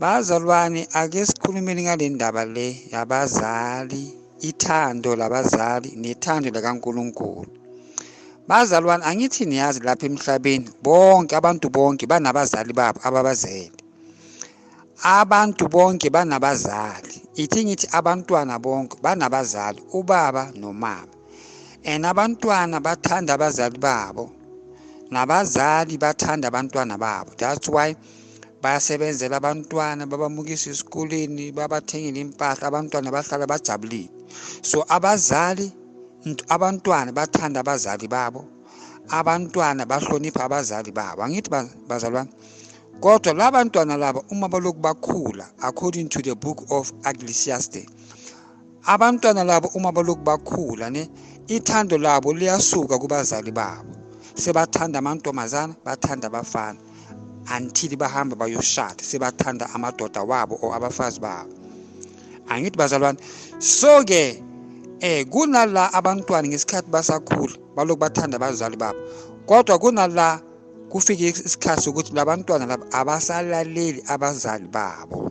Bazalwane ake sikhulumeni ngale ndaba le yabazali, ithando labazali nethando likaNkulunkulu. Bazalwane angithi niyazi lapha emhlabeni bonke abantu bonke banabazali babo ababazele. Abantu bonke banabazali. Ithi ngithi abantwana bonke banabazali, ubaba nomama. and abantwana bathanda abazali babo nabazali bathanda abantwana babo that's why bayasebenzela abantwana babamukisa esikoleni babathengele impahla abantwana bahlala bajabulile so abazali abantwana bathanda abazali babo abantwana bahlonipha abazali babo angithi bazalwane kodwa la bantwana laba uma balokhu bakhula according to the book of ecclesiastes abantwana labo uma balokhu bakhula ne ithando labo liyasuka kubazali babo sebathanda amantombazana bathanda abafana until bahamba bayoshada sebathanda amadoda wabo or abafazi babo angithi bazalwane so ke eh kunala abantwana ngesikhathi basakhula balokhu bathanda abazali babo kodwa kunala kufike isikhathi sokuthi labantwana laba abasalaleli abazali babo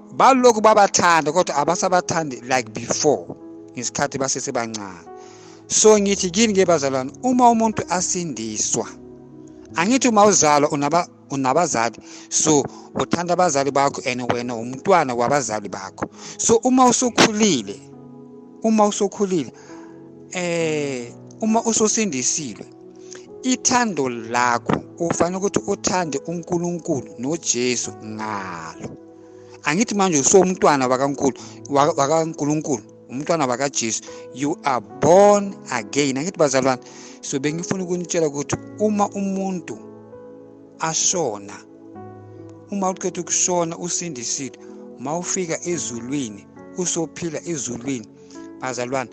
balokhu babathanda kodwa abasabathandi like before ngesikhathi basesebancane so ngithi kini ke bazalwane uma umuntu asindiswa angithi uma uzalwa unaba unabazali so uthanda abazali bakho and wena umntwana wabazali bakho so uma usukhulile uma usukhulile eh uma usosindisiwe ithando lakho ufanele ukuthi uthande uNkulunkulu noJesu ngalo angithi manje usomntwana wakankulu wakankulunkulu umntwana wakajesu you are born again angithi bazalwane so bengifuna ukunitshela ukuthi uma umuntu ashona uma uqeda ukushona usindisile uma ufika ezulwini usophila ezulwini bazalwane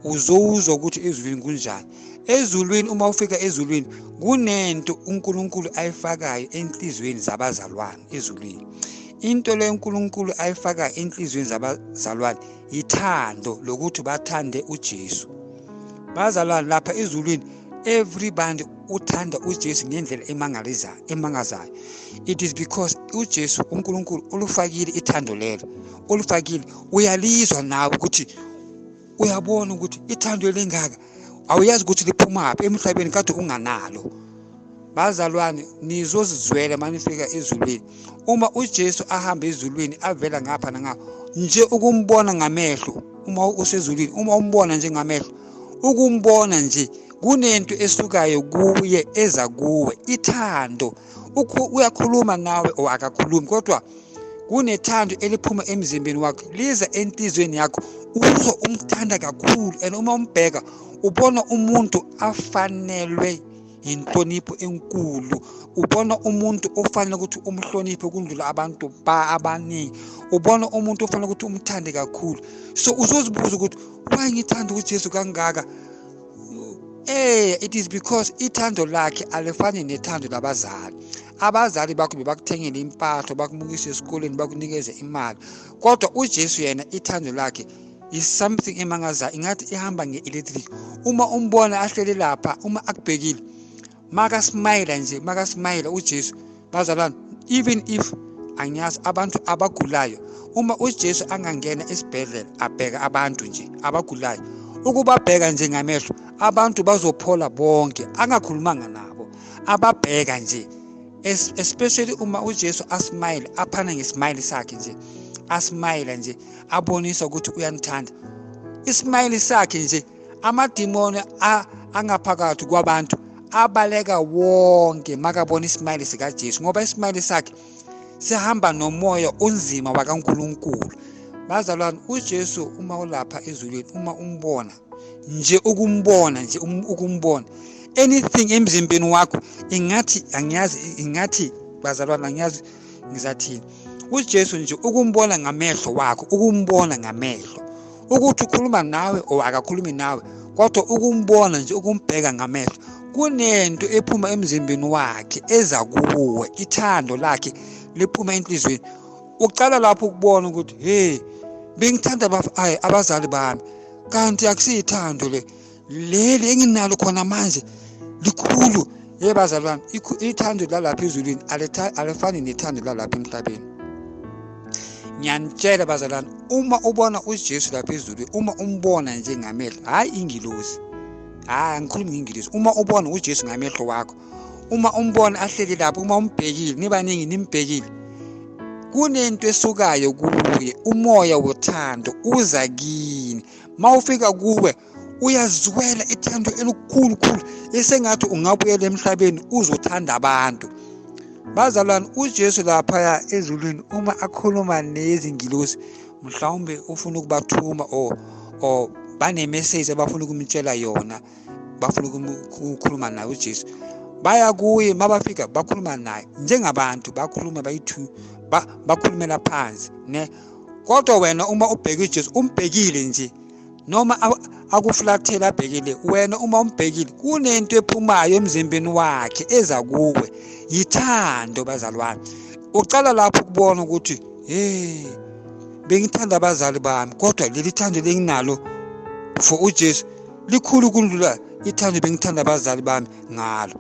uzowuzwa ukuthi ezulwini kunjani ezulwini uma ufika ezulwini kunento uNkulunkulu ayifakayo enhlizweni zabazalwane ezulwini into le uNkulunkulu ayifakayo enhlizweni zabazalwane yithando lokuthi bathande uJesu bazalwane lapha ezulwini everybody uthanda uJesu ngendlela emangalizayo emangazayo it is because uJesu uNkulunkulu ulufakile ithando lelo ulufakile uyalizwa nawe ukuthi uyabona ukuthi ithando elingaka awuyazi ukuthi liphumaphi emhlabeni kade unganalo bazalwane nizozizwela manifika ezulwini uma uJesu ahamba ezulwini avela ngapha nangapha nje ukumbona ngamehlo uma usezulwini uma umbona nje ngamehlo ukumbona nje kunento esukayo kuye eza kuwe ithando uyakhuluma nawe or akakhulumi kodwa kunethando eliphuma emzimbeni wakho liza entizweni yakho uzwa umthanda kakhulu and uma umbheka ubona umuntu afanelwe yinhlonipho enkulu ubona umuntu ofanele ukuthi umhloniphe kundlula abantu ba abaningi ubona umuntu ofanele ukuthi umthande kakhulu so uzozibuza ukuthi why ngithanda uJesu kangaka eh it is because ithando lakhe alifani nethando labazali abazali bakho bebakuthengele impahla bakumukise esikoleni bakunikeze imali kodwa uJesu yena ithando lakhe is something emangazayo ingathi ihamba nge-electric uma umbona ahlele lapha uma akubhekile makasimayela nje makasimayela uJesu bazalwane even if angiyazi abantu abagulayo uma uJesu angangena esibhedlela abheka abantu nje abagulayo ukubabheka nje ngamehlo abantu bazophola bonke angakhulumanga nabo ababheka nje especially uma uJesu asmile aphana ngesmile sakhe nje asmile nje abonisa ukuthi uyanithanda ismile sakhe nje amadimoni angaphakathi kwabantu abaleka wonke makabona isimayili sikaJesu ngoba isimayili sakhe sihamba nomoya onzima wakaNkulunkulu bazalwane uJesu uma ulapha ezulwini uma umbona nje ukumbona nje um, ukumbona anything emzimbeni wakho ingathi angiyazi ingathi bazalwane angiyazi ngizathini uJesu nje ukumbona ngamehlo wakho ukumbona ngamehlo ukuthi ukhuluma nawe or akakhulumi nawe kodwa ukumbona nje ukumbheka ngamehlo kunento ephuma emzimbeni wakhe eza kuwe ithando lakhe liphuma enhliziyweni ucala lapho ukubona ukuthi hey bengithanda abazali bami kanti akusiyithando le leli enginalo khona manje likhulu ye bazalwane ithando lalapha ezulwini alifani nethando lalapha emhlabeni ngiyanitshela bazalwane uma ubona ujesu lapha ezulwini uma umbona nje ngamehlo hhayi ingilosi hhayi angikhulumi ngengilosi uma ubona ujesu ngamehlo wakho uma umbona ahleli lapho uma umbhekile nibaningi nimbhekile kunento esukayo kuye umoya wothando uza kini mawufika kuwe uyazizwela ithando elikhulukhulu esengathi ungabuyela emhlabeni uzothanda abantu bazalwane ujesu laphaya ezulwini uma akhuluma nezingilosi mhlawumbe ufuna ukubathuma or or banemeseji abafuna ukumtshela yona bafuna ukukhuluma naye ujesu baya kuye uma bafika bakhuluma naye njengabantu bakhuluma bayi-two bakhulumela phansi ne kodwa wena uma ubheke ujesu umbhekile nje noma akuflathele abhekile wena uma umbhekile kunento ephumayo emzimbeni wakhe eza kuwe yithando bazalwane ucala lapho ukubona ukuthi hey bengithanda abazali bami kodwa leli thando lenginalo for uJesu likhulu kundlula ithando bengithanda abazali bami ngalo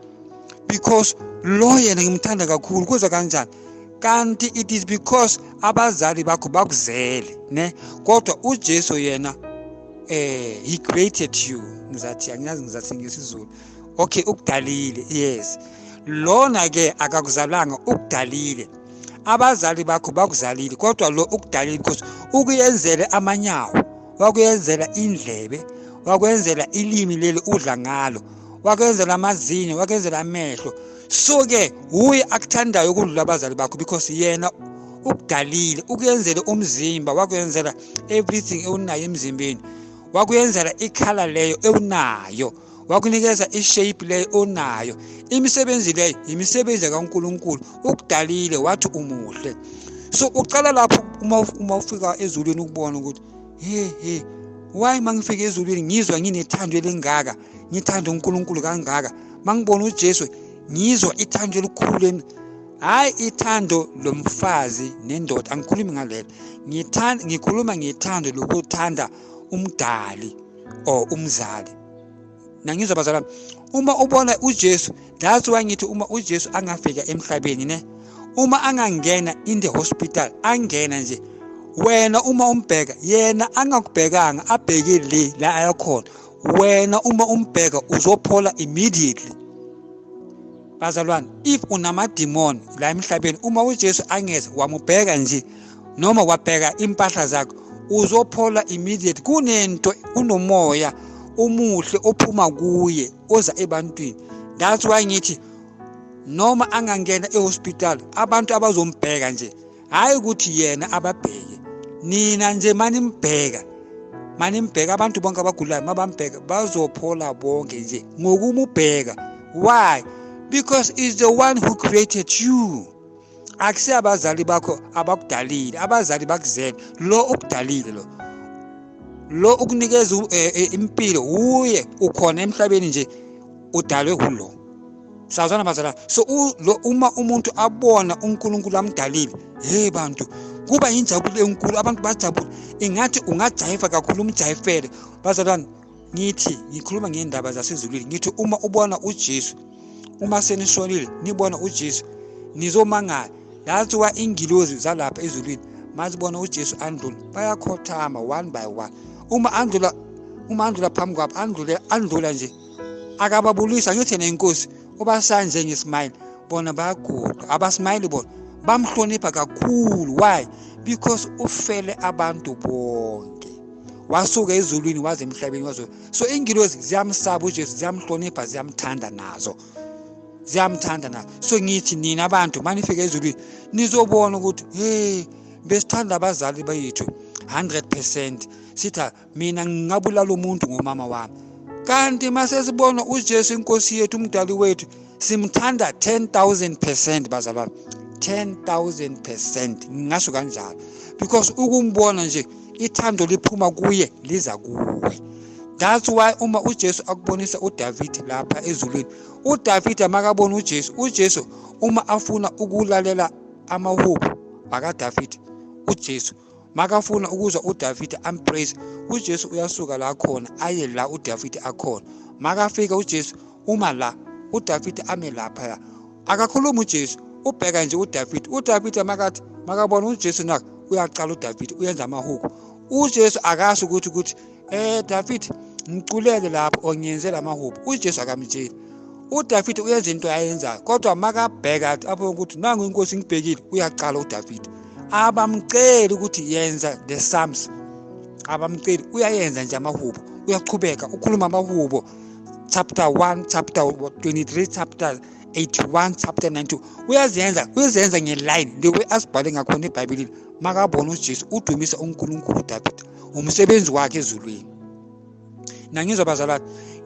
because lo yena ngimthanda kakhulu kuza kanjani kanti it is because abazali bakho bakuzele ne kodwa uJesu yena eh he created you ngizathi angiyazi ngizathi ngesizulu okay ukudalile yes lona ke akakuzalanga ukudalile abazali bakho bakuzalile kodwa lo ukudalile because ukuyenzele amanyawo wakuyenzela indlebe wakwenzela ilimi leli udla ngalo wakwenzela amazinyo wakwenzela amehlo so ke wuye akuthandayo ukudlula abazali bakho because yena ukudalile ukuyenzela umzimba wakwenzela everything ewunayo emzimbeni wakuyenzela ikhala leyo ewunayo wakunikeza ishape leyo onayo imisebenzi leyo yimisebenzi kaNkuluNkulu ukudalile wathi umuhle so uqala lapho uma uma ufika ezulwini ukubona ukuthi he he why mangifika ezulwini ngizwa nginethando elingaka ngithanda uNkulunkulu kangaka mangibona uJesu ngizwa ithando elikhulu emi hayi ithando lomfazi nendoda angikhulumi ngalelo ngithanda ngikhuluma ngethando lokuthanda umdali or umzali nangizwa bazalwane uma ubona uJesu that's why ngithi uma uJesu angafika emhlabeni ne uma angangena in the hospital angena nje wena uma umbheka yena angakubhekanga abheke le la ayakhona wena uma umbheka uzophola immediately bazalwane if unamadimoni la emhlabeni uma ujesu angeze wamubheka nje noma wabheka impahla zakho uzophola immediate kunento kunomoya umuhle ophuma kuye oza ebantwini that's why ngithi noma angangena ehospital abantu abazombheka nje hhayi ukuthi yena ababheke nina nje manimbheka manimbheka abantu bonke abagulayo mabambheka bazophola bonke nje ngokumubheka why because is the one who created you akusiyo abazali bakho abakudalile abazali bakuzele lo okudalile lo lo ukunikeza eh, eh, impilo wuye ukhona emhlabeni nje udalwe kulo sawuzana bazalwane so uma umuntu abona unkulunkulu amdalile hey bantu kuba yinjabulo enkulu abantu bajabule ingathi ungajayiva kakhulu umjayifele bazalwane ngithi ngikhuluma ngendaba zasezulwini ngithi uma ubona ujesu uma senishonile nibona ujesu nizomangala that's why ingilozi zalapha ezulwini mazibona ujesu andlula bayakhothama one by one uma andlula uma andlula phambi kwabo andlule andlula nje akababulisa ngithi yena inkosi ubasanje ngesmile bona bayaguda abasmile bona bamhlonipha kakhulu why because ufele abantu bonke wasuka ezulwini waze emhlabeni wazo so ingilozi ziyamsaba ujesu ziyamhlonipha ziyamthanda nazo ziyamthanda nazo so ngithi nina abantu manifika ezulwini nizobona ukuthi hey besithanda abazali bethu 100 percent sitha mina ngingabulala umuntu ngomama wami kanti masesibona uJesu inkosi yethu umdali wethu simthanda 10000% bazalwa 10000% ngingasho kanjalo because ukumbona nje ithando liphuma kuye liza kuwe that's why uma uJesu akubonisa uDavid lapha ezulwini uDavid amakabona uJesu uJesu uma afuna ukulalela amahubo bakaDavid uJesu makafuna ukuzwa udavide ampraise ujesu uyasuka la khona aye la udavide akhona makafika ujesu uma la udavide ame laphaya akakhulumi ujesu ubheka nje udavide udavide makathi makabona ujesu naka uyaqala udavide uyenza amahuku ujesu akasho ukuthi ukuthi Eh David ngiculeke lapho ongiyenze lamahubo uJesu akamtsheli uDavid uyenza into ayenzayo kodwa makabheka athi abone ukuthi nangu inkosi ngibhekile uyaqala uDavid abamceli ukuthi yenza the psalms abamceli uyayenza nje amahubo uyaqhubeka ukhuluma amahubo chapter 1 chapter 23 chapter 81 chapter 92 uyazenza uyazenza ngeline the way asibhale ngakhona ebhayibhelini makabona ujesu udumisa unkulunkulu udavida umsebenzi wakhe ezulwini nangizwa bazalwa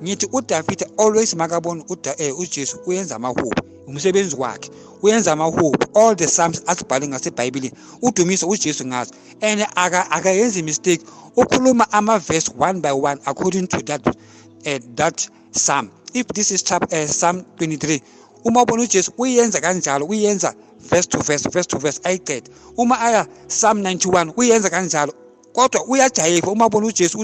ngithi uDavid always makabona eh, uJesu uyenza amahubo umsebenzi wakhe uyenza amahubo all the psalms asibhale ngasebhayibhelini udumise ujesu ngazo and akayenzi mistake ukhuluma ama-verse one by one according to that, uh, that Psalm. If this is chapter uh, eh, Psalm 23 uma ubona uJesu uyenza kanjalo uyenza verse to verse verse to verse ayiqede uma aya Psalm 91 uyenza kanjalo kodwa uyajayiva uma ubona uJesu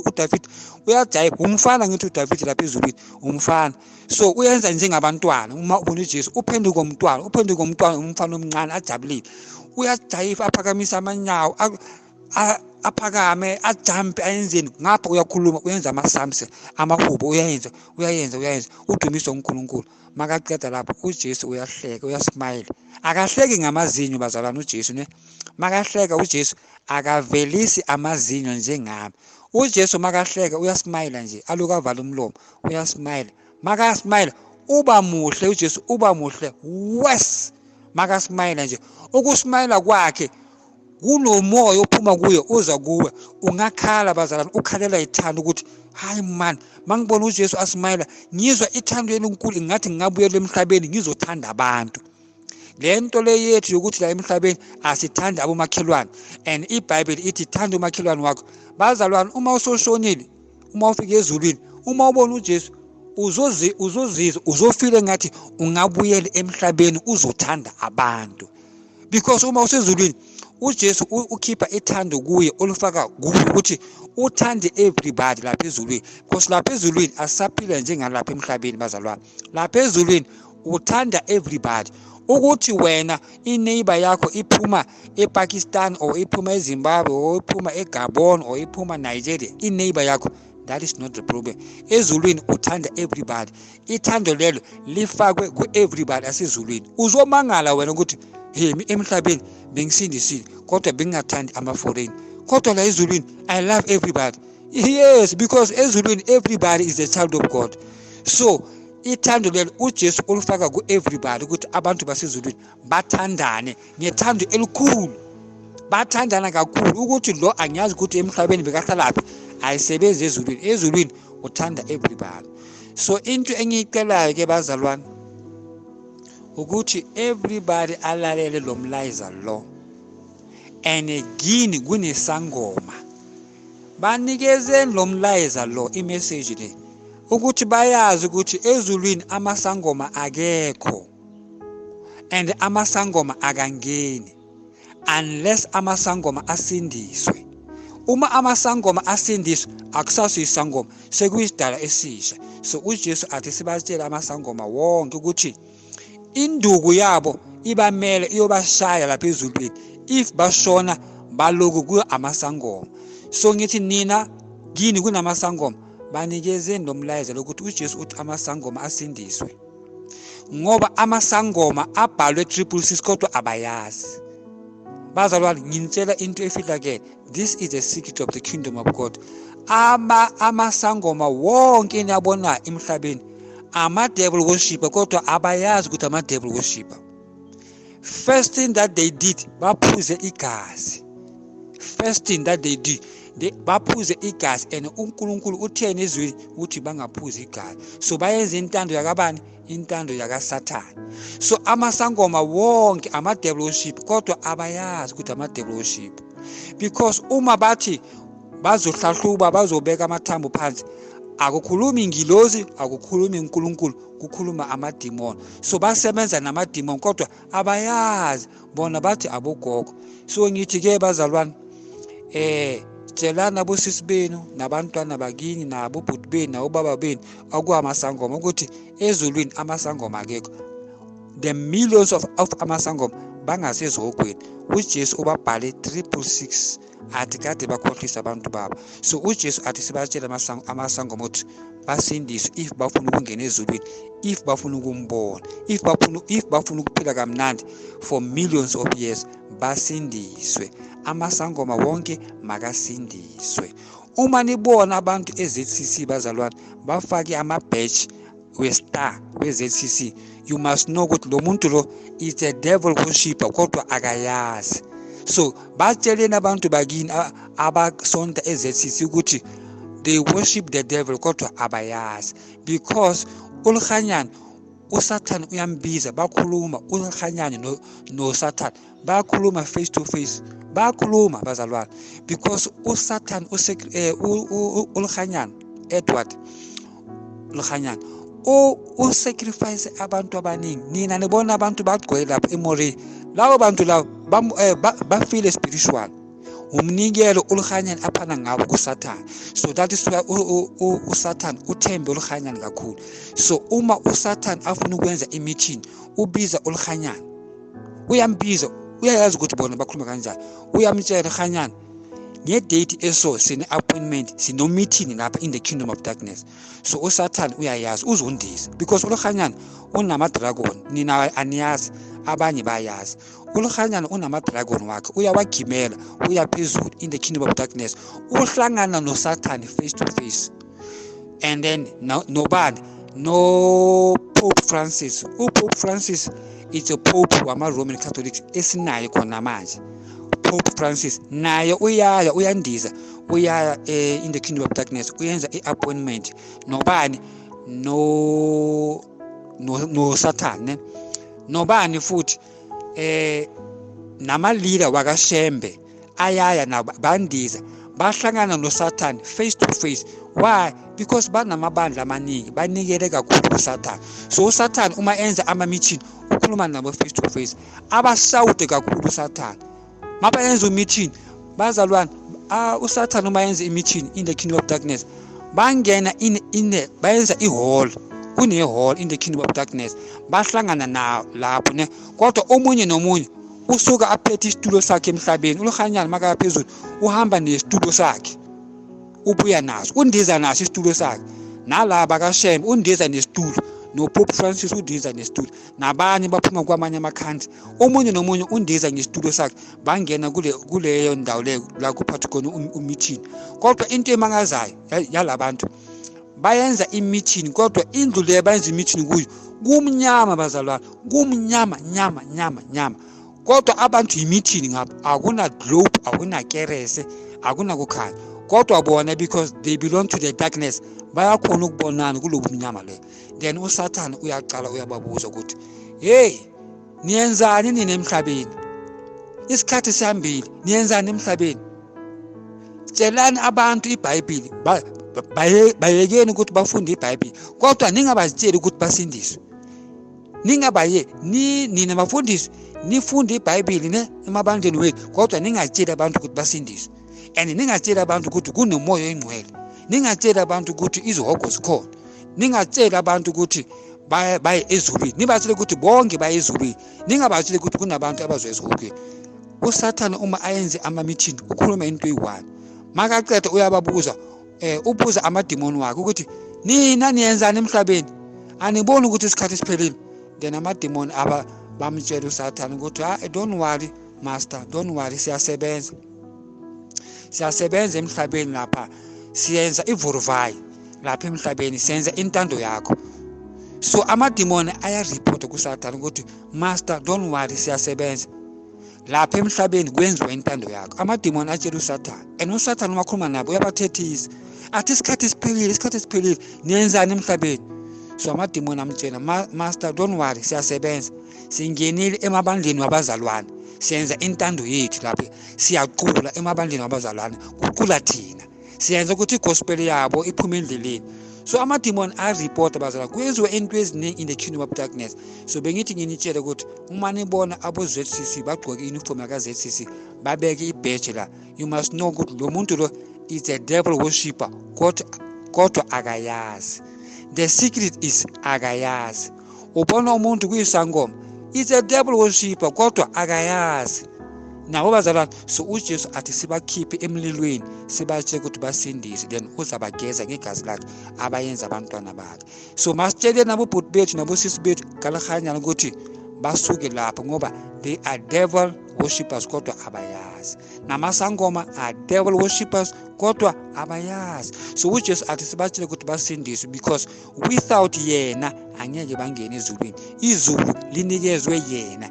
uDavid uyajayiva umfana ngithi uDavid lapha ezulwini umfana so uyenza njengabantwana uma ubona uJesu uphenduka umntwana uphenduka umntwana umfana omncane ajabulile uyajayiva aphakamisa amanyawo aphakame ajampe ayenzeni ngapha uyakhuluma uyenza ama-sums amahubo uyayenza uyayenza uyayenza udumiswa unkulunkulu makaqeda lapho ujesu uyahleka uyasmayile akahleki ngamazinyo bazalwane ujesu ne makahleka ujesu akavelisi amazinyo njengami ujesu makahleka uyasmayila nje aloku avala umlomo uyasmayila makasmayila uba muhle ujesu uba muhle wes makasmayila nje ukusmayila kwakhe kunomoya ophuma kuye uza kuwe ungakhala bazalwane ukhalela ithanda ukuthi hayi man mangibona uJesu asimayela ngizwa ithando elinkulu ngathi ngingabuyela emhlabeni ngizothanda abantu lento le yethu yokuthi la emhlabeni asithanda abomakhelwane and iBhayibheli ithi thanda umakhelwane wakho bazalwane uma usoshonile uma ufika ezulwini uma ubona uJesu uzozi uzozizwa uzofile ngathi ungabuyela emhlabeni uzothanda abantu because uma usezulwini uJesu ukhipha ithando kuye olufaka kuye ukuthi uthande everybody lapha ezulwini because lapha ezulwini asisaphila njengalapha emhlabeni bazalwane lapha ezulwini uthanda everybody ukuthi wena ineighbor yakho iphuma ePakistan or iphuma eZimbabwe or iphuma eGabon or iphuma Nigeria ineighbor yakho that is not the problem ezulwini uthanda everybody ithando lelo lifakwe ku-everybody asezulwini uzomangala wena ukuthi yimi emhlabeni bengisindisile kodwa bengingathandi ama-foreign kodwa la ezulwini i love everybody yes because ezulwini everybody is a child of god so ithando lelo ujesu ulifaka ku-everybody ukuthi abantu basezulwini bathandane ngethando elikhulu bathandana kakhulu ukuthi lo angiyazi ukuthi emhlabeni bekahlalaphi ayisebenzi ezulwini ezulwini uthanda everybody so into engiyicelayo ke bazalwane ukuthi everybody alalele lo mlayiza lo and gini kunesangoma banikezeni lo mlayiza lo imeseji le ukuthi bayazi ukuthi ezulwini amasangoma akekho and amasangoma akangeni unless amasangoma asindiswe uma amasangoma asindiswe akusaso isangoma sekuyisidala esisha so uJesu athi sibatshele amasangoma wonke ukuthi induku yabo ibamele iyobashaya lapha ezulwini if bashona baloku kuyo amasangoma so ngithi nina kini kunamasangoma banikezeni lo mlayezo lokuthi uJesu uthi amasangoma asindiswe ngoba amasangoma abhalwe triple six kodwa abayazi bazalwane nginitshela into efihlakele this is the secret of the kingdom of god ama amasangoma wonke eniyabona emhlabeni ama-devil worshiper kodwa abayazi ukuthi ama-devil worshiper first thing that they did baphuze igazi first thing that they did baphuze igazi and uNkulunkulu utheni izwi ukuthi bangaphuzi igazi so bayenza intando yakabani intando yakasathane so amasangoma wonke ama-devil worship kodwa abayazi ukuthi ama-devil worship because uma bathi bazohlahluba bazobeka amathambo phansi akukhulumi ngilozi akukhulumi uNkulunkulu kukhuluma amadimoni so basebenza namadimoni kodwa abayazi bona bathi abogogo so ngithi ke bazalwane eh tshelani abosisi benu nabantwana bakini nabo bhuti benu nabobaba benu okuamasangoma ukuthi ezulwini amasangoma akekho the millions of, of amasangoma bangasezihogweni ujesu ubabhale 366 athi kade bakhohlisa abantu babo so ujesu athi sibatshele amasango mothi basindiswe if bafuna ukungena ezulwini if bafuna ukumbona if bafuna if bafuna ukuphila kamnandi for millions of years basindiswe amasangoma wonke makasindiswe uma nibona abantu eZCC bazalwane bafake ama-badge westar we-zcc you must know ukuthi lo muntu lo is a devil worshipper kodwa akayazi so batsheleni abantu bakini abasonta e-zcc ukuthi they worship the devil kodwa abayazi because ulihanyana usathane uyambiza bakhuluma ulihanyane nosathane no bayakhuluma face to face bayakhuluma bazalwane because usatan eh, ulihanyana edward lihanyana usacrifice abantu abaningi nina nibona abantu bagcwele lapho emorini labo bantu labo eh, bafile spiritual umnikelo oluhanyani aphana ngawo kusathane so that is why usathane uthembe oluhanyani kakhulu so uma usathane afuna ukwenza imithini ubiza oluhanyani uyambiza uyayazi ukuthi bona bakhuluma kanjani uyamtshela hanyana ngedate eso sine-appointment sinomeeting lapha in the kingdom of darkness so usathane uyayazi uzondisa because ulohanyana unamadragon nina aniyazi abanye bayazi ulohanyana unamadragon wakhe uyawagimela uya phezulu in the kingdom of darkness uhlangana nosathane face to face and then no, nobani no pope francis upope francis it's a pope wama-roman catholics esinaye khona manje pope francis naye uyaya uyandiza uyaya eh, in the kingdom of darkness uyenza i-appointment nobani no nosathane no nobani futhi eh nama-leader wakashembe ayaya nabo bandiza bahlangana nosathane face to face why because banamabandla amaningi banikele kakhulu kusathane so usathane uma enza ama-meeting ukhuluma nabo face to face abashawude kakhulu usathane uma bayenza u-meeting bazalwane uh, usathane uma yenza i-meeting in the kingdom of darkness bangena in, in the, bayenza ihall kunehall in the kingdom of darkness bahlangana na lapho ne kodwa omunye nomunye usuka aphethe isitulo sakhe emhlabeni uLuhanyana makaya phezulu uhamba nesitulo sakhe ubuya naso undiza naso isitulo sakhe nalaba kashembe undiza nesitulo nopope francis undiza nesitulo nabanye baphuma kwamanye amakhansi omunye nomunye undiza ngesitulo sakhe bangena kule kuleyo ndawo leyo la kuphathi khona um, umithini kodwa into emangazayo yalabantu ya bayenza imithini kodwa indlu le bayenza imithini kuyo kumnyama bazalwana kumnyama nyama nyama nyama kodwa abantu yimithini ngapha akuna-globe akunakerese akunakukhanya kodwa bona because they belong to the darkness bayakhona ukubonana kulobu mnyama leyo then usathane uyaqala uyababuza ukuthi heyi niyenzani nina emhlabeni isikhathi sihambile niyenzani emhlabeni tshelani abantu ibhayibhili bayekeni ukuthi bafunde ibhayibhili kodwa ningabazitsheli ukuthi basindiswe ningabaye ni nina bafundisi nifunde ibhayibhili ne emabandleni wethu kodwa ningatsheli abantu ukuthi basindiswe and ningatsheli abantu ukuthi kunomoya oyingcwele ningatsheli abantu ukuthi izihogo zikhona ningatsheli abantu ukuthi baye ezulwini nibatshele ukuthi bonke baye ezulwini ningabatsheli ukuthi kunabantu abazwe ezihogweni usathane uma ayenze amamithini ukhuluma into eyi-one makaqeda uyababuza um ubuza amadimoni wakhe ukuthi nina niyenzani emhlabeni aniboni ukuthi isikhathi siphelile then amadimoni aba bamtshela usathane ukuthi ha ah, don't worry master don't worry siyasebenza siyasebenza emhlabeni lapha siyenza ivuruvayi lapha emhlabeni senza intando yakho so amadimoni ayareport kusathane ukuthi master don't worry siyasebenza lapha emhlabeni kwenziwa intando yakho amadimoni atshela usathane and usathane uma khuluma nabo uyabathethisa athi isikhathi esiphelile isikhathi esiphelile niyenzani emhlabeni so amadimoni amtshela master don't worry siyasebenza singenile emabandleni wabazalwane siyenza intando yethu lapho siyacula emabandleni wabazalwane kucula thina siyenza ukuthi igospel yabo iphume endleleni so amadimoni aripota bazala kwenziwa into eziningi in the kingdom of darkness so bengithi nginitshele ukuthi uma nibona abo-zcc bagqoke i-uniform yaka-zcc babeke ibheje la you must know ukuthi lo muntu lo is a devil worshipper kodwa akayazi the secret is akayazi ubona umuntu kuyisangoma it's a devil worshiper kodwa akayazi nabo bazalwane so ujesu athi sibakhiphe emlilweni sibatshele ukuthi basindise then uzabageza ngegazi lakhe abayenza abantwana bakhe so masitshele nabobhuti bethu nabosisi bethu kalihanyana ukuthi basuke lapho ngoba they are devil worshippers kodwa abayazi namasangoma are devil worshippers kodwa abayazi so ujesu athi sibatshele ukuthi basindiswe because without yena angeke bangene ezulwini izulu linikezwe yena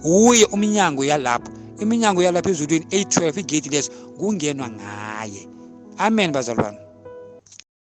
wuye umnyango yalapho iminyango yalapha ezulwini eyi-12 igedi leso kungenwa ngaye amen bazalwane